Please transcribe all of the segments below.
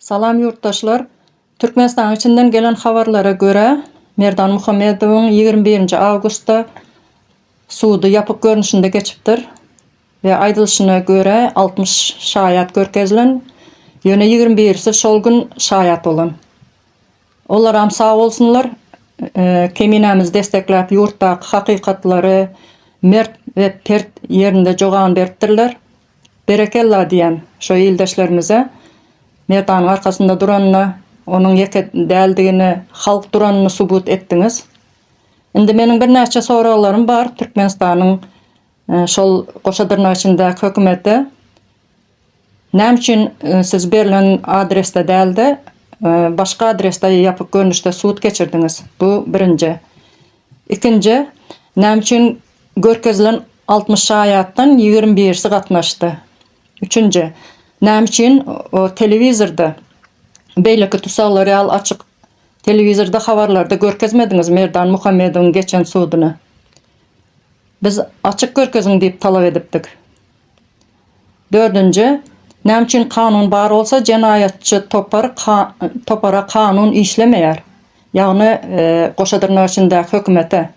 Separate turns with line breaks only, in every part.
Salam ýurtdaşlar! Türkmenistanyň içinden gelen habarlara görä, Merdan Muhammedowyň ýigrimi birinji awgustda sudy ýapyk görnüşinde geçipdir we aýdylyşyna görä, altmyş şaýat görkezilen, ýöne ýigrimi birisi şol gün şaýat bolan. Olaram sag bolsunlar, Keminämizi destekläp ýurtdaky hakykatlary mert we pert ýerinde jogan beripdirler. Berekella diýýän şo ildeşlerimize. Merdanyň arkasynda duranyna, onuň ýeke däldigini, halk duranyny subut etdiňiz. Indi meniň birnäçe soraglarym bar Türkmenistanyň şol goşa dyrnak içindäki hökümete. Näme üçin siz berlen adresde dälde başga adresde ýapyk görnüşde sud geçirdiňiz? Bu birinji. Ikinji, näme üçin görkezilen altmyş şaýatdan ýigrimi birisi gatnaşdy? Üçünji, näme üçin o telewizorda beýleki tusaglar ýaly açyk telewizorda habarlarda görkezmediňiz Merdan Muhammedowyň geçen suduny? Biz açyk görkeziň diýip talap edipdik. Dördünji, näme üçin kanun bar bolsa jenaýatçy topar topara kanun işlemeýär? Ýagny goşa dyrnak içindäki hökümete.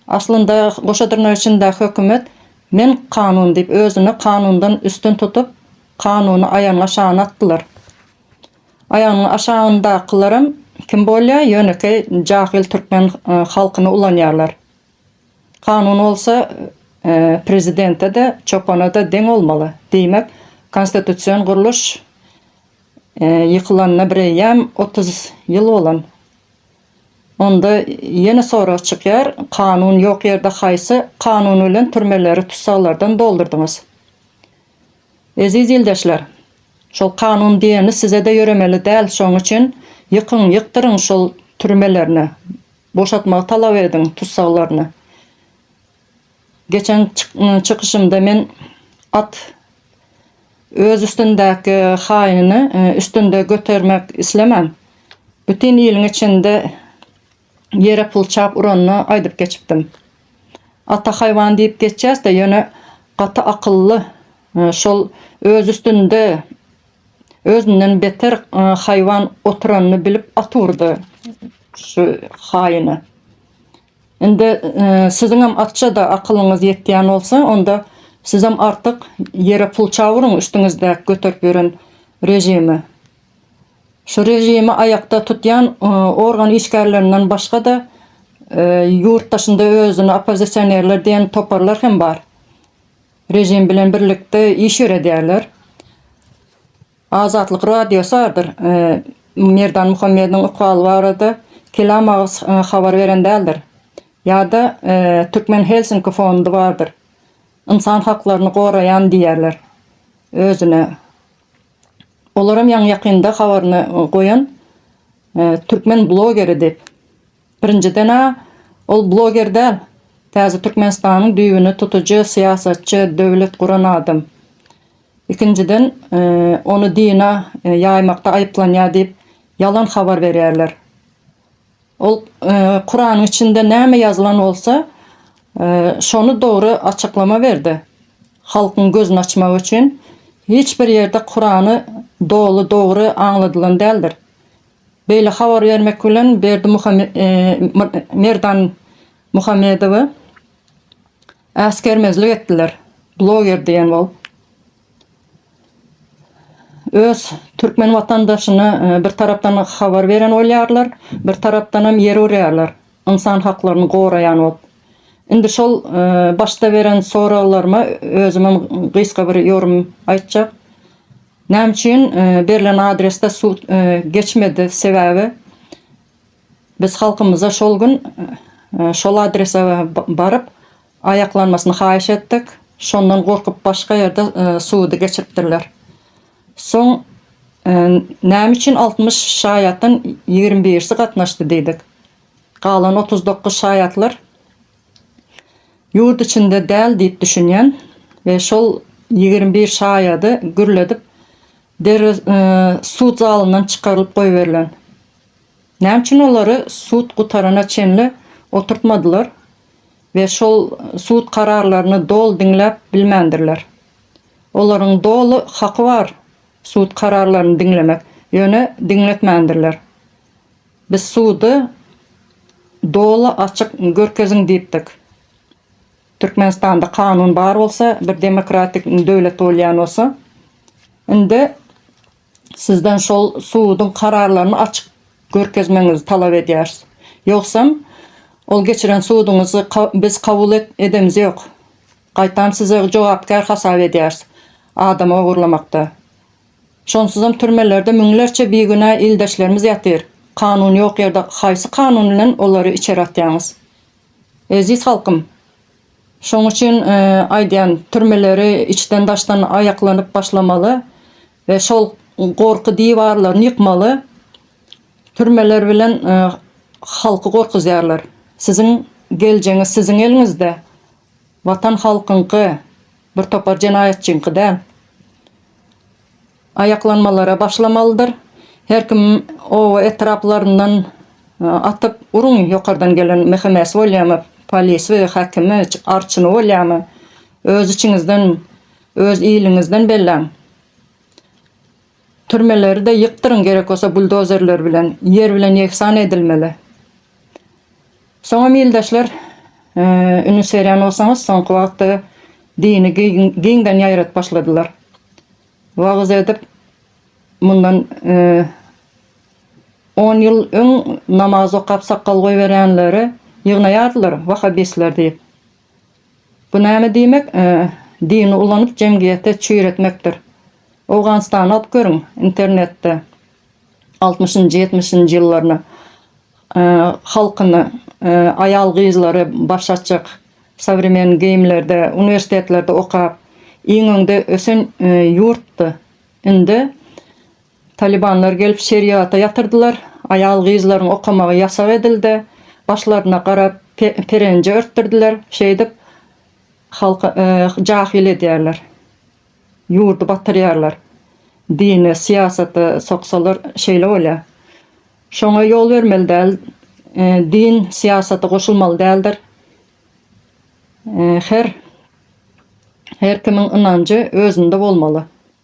Aslynda goşa dyrnak içindäki hökümet men kanun diýip özüni kanundan üstün tutup kanuny aýagynyň aşagyna atdylar. Aýagynyň aşagyndakylaram kim bolýar ýönekeý jahyl türkmen halkyny ulanýarlar. Kanun bolsa prezidente-de, çopana-da deň bolmaly. Diýmek, konstitusion gurluş ýykylanyna bireýýäm otuz ýyl bolan. Onda ýene sorag çykýar, kanun ýok ýerde haýsy kanun bilen türmeleri tussaglardan doldurdyňyz? Eziz ildeşler, şol kanun diýeni size-de ýöremeli däl, şonuň üçin ýykyň, ýykdyryň şol türmelerini, Boşatmagy talap ediň tussaglaryny. Geçen çykyşymda men at öz üstündäki haýynyny üstünde götermek islemän, bütin iliň içinde ýere pul çap uranyny aýdyp geçipdim. Ata haýwan diýip geçýäs-de, ýöne gaty akylly, şol öz üstünde Özünden beter haýwan oturanyny bilip at urdy şu haýyna. Indi siziňem atça-da akylyňyz ýetýän bolsa, onda sizem artyk ýere pul çawuryň üstüňizdäki göterip ýören režimi. Şu režimi aýakda tutýan organ işgärlerinden başga-da ýurt daşynda özüni oppozisionerler diýen toparlar hem bar. režim bilen birlikde iş ýöredýärler. Azatlyk radiosy adyr e, Merdan Muhammediň ykbaly barada kelam agyz e, habar beren däldir. Ýa-da e, Türkmen Helsinki fondy bardyr. Ynsan haklaryny goraýan diýýärler özüne. Olaram ýaňy ýakynda habaryny goýan e, türkmen blogeri diýip. Birinjiden-ä, ol bloger däl, täze Türkmenistanyň düýbüni tutujy syýasatçy, döwlet guran adam. Ikinjiden, ony dina ýaýmakda aýyplanýar diýip, ýalan habar berýärler. Ol Kuranyň içinde näme ýazylan bolsa, şony dogry açyklama berdi. Halkyň gözüni açmak üçin. Hiç bir ýerde Kurany doly dogry aňladylan däldir. Beýle habar bermek bilen Berdi Merdan Muhammedowa äsgermezlik etdiler. Bloger diýen bolup öz türkmen watandaşyna bir tarapdan habar beren bolýarlar, bir tarapdanam ýer urýarlar ynsan haklaryny goraýan bolup. Indi şol başda beren soraglaryma özümem gysga bir ýorym aýtjak. Näme üçin berlen adresde suw geçmedi sebäbi biz halkymyza şol gün şol adrese baryp aýaklanmasyny haýyş etdik şondan gorkup başga ýerde suwudy geçiripdirler soň näme üçin altmyş şaýatdan ýigrimi birisi gatnaşdy diýdik galan otuz dokuz şaýatlar Ýurt içinde däl diýip düşünýän we şol ýigrimi bir şaýady gürledip derrew sud zalyndan çykarylyp goýberilen. Näme üçin olary sud gutarana çenli oturtmadylar we şol sud kararlaryny doly diňläp bilmändirler. Olaryň doly haky bar sud kararlaryny diňlemek, ýöne diňletmändirler. Biz sudy doly açyk görkeziň diýipdik. Türkmenistanda kanun bar bolsa, bir demokratik döwlet bolýan bolsa, indi sizden şol suduň kararlaryny açyk görkezmegiňizi talap edýäris. Ýogsam, ol geçiren suduňyzy biz kabul edemiz ýok. Gaýtam sizi jogapkär hasap edýäris adam ogurlamakda. Şonsuzam türmelerde müňlerçe bigünä ildeşlerimiz ýatyr. Kanun ýok ýerde haýsy kanun bilen olary içeri atýaňyz? Eziz halkym! Şoň üçin aýdýan, türmeleri içden daşdan aýaklanyp başlamaly we şol gorky diwarlaryny ýykmaly. Türmeler bilen halky gorkuzýarlar. Siziň geljegiňiz siziň eliňizde. Watan halkyňky, bir topar jenaýatçyňky däl. Aýaklanmalara başlamalydyr. Her kim oba etraplaryndan atyp uruň ýokardan gelen MHM-si bolýamy, polisi, häkimi, arçyny bolýamy, öz içiňizden, öz iliňizden belläň. Türmeleri de ýykdyryň gerek bolsa buldozerler bilen ýer bilen ýegsan edilmeli. Soňam ildeşler üns berýän bolsaňyz soňky wagtda dini giňden ýaýradyp başladylar. Wagyz edip mundan on ýyl öň namaz okap sakgal goýberýänleri ýygnaýardylar wahabistler diýip. Bu näme diýmek, dini ulanyp jemgyýete çüýretmekdir. Owganystany okyp görüň internetde altmyşynjy ýetmişinji ýyllaryny halkyny aýal gyzlary baş açyk sowremenn geýimlerde uniwersitetlerde okap iň öňde ösen ýurtdy indi Talybanlar gelip şeriata ýatyrdylar, aýal-gyzlaryň okamagy ýasak edildi, başlaryna gara perenje örtdürdiler, şeýdip halky jahyl edýärler, ýurdy batyrýarlar. Dine, syýasata soksalar şeýle bolýar. Şoňa ýol bermeli däl, din syýasata goşulmaly däldir. Her her kimiň ynanjy özünde bolmaly.